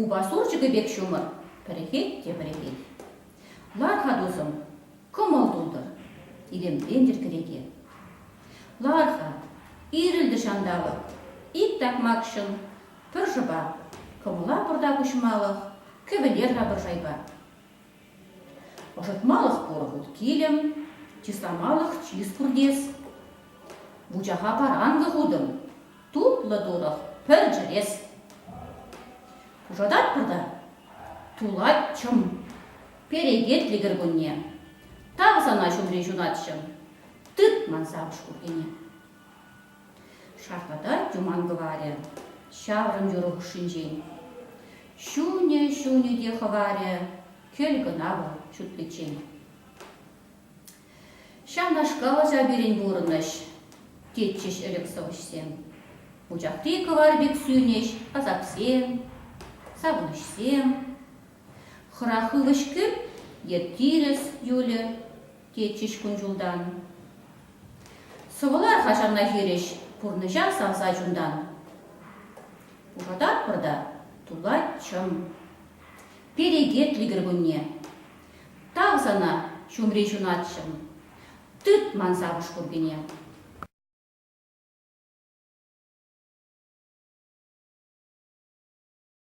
Упа сурчӑкӗ пек ҫумӑр пӗрӗхет те пӗрӗхет. Лар-ха, тусӑм, кӑмӑл тутӑр, илемлентӗр кӗреке. Лар-ха, ирӗлтӗ ҫанталӑк, ик такмакҫӑн пӗр шӑпа, кӑмӑла пӑртак уҫмалӑх кӗвӗлер-ха пӗр шайпа. Ӑсатмалӑх пур хут килӗм, чысламалӑх чыс пуртес. Вучаха паранкӑ хутӑм, тутлӑ турӑх пӗр чӗрес. Пушататпӑр та тулатчӑм, перекетлӗ кӗркунне. Тав сана ҫумри ҫунатҫӑм, тыт ман савӑш куркине. Шартлата Туман кӑварӗ ҫаврӑм юр хушшинчен. Ҫунӗ-ҫунӗ те хӑварӗ кӗл кӑна вӑл ҫутниччен. Ҫавнашкал аса пирӗн пурӑнӑҫ, тетчӗҫ ӗлӗк сӑвӑҫсем. Учахри кӑвар пек сӳнӗҫ асапсем, савӑнӑҫсем. Хӑрах ывӑҫ кӳп е тирӗс юлӗ, тетчӗҫ кун-ҫултан. Сӑвӑлар-ха ҫавна хирӗҫ, пурнӑҫа савса чунтан. Пушататпӑр та тулать чӑм. Перекетлӗ кӗркунне. Тав сана, ҫумри ҫунатҫӑм. Тыт ман савӑш куркине.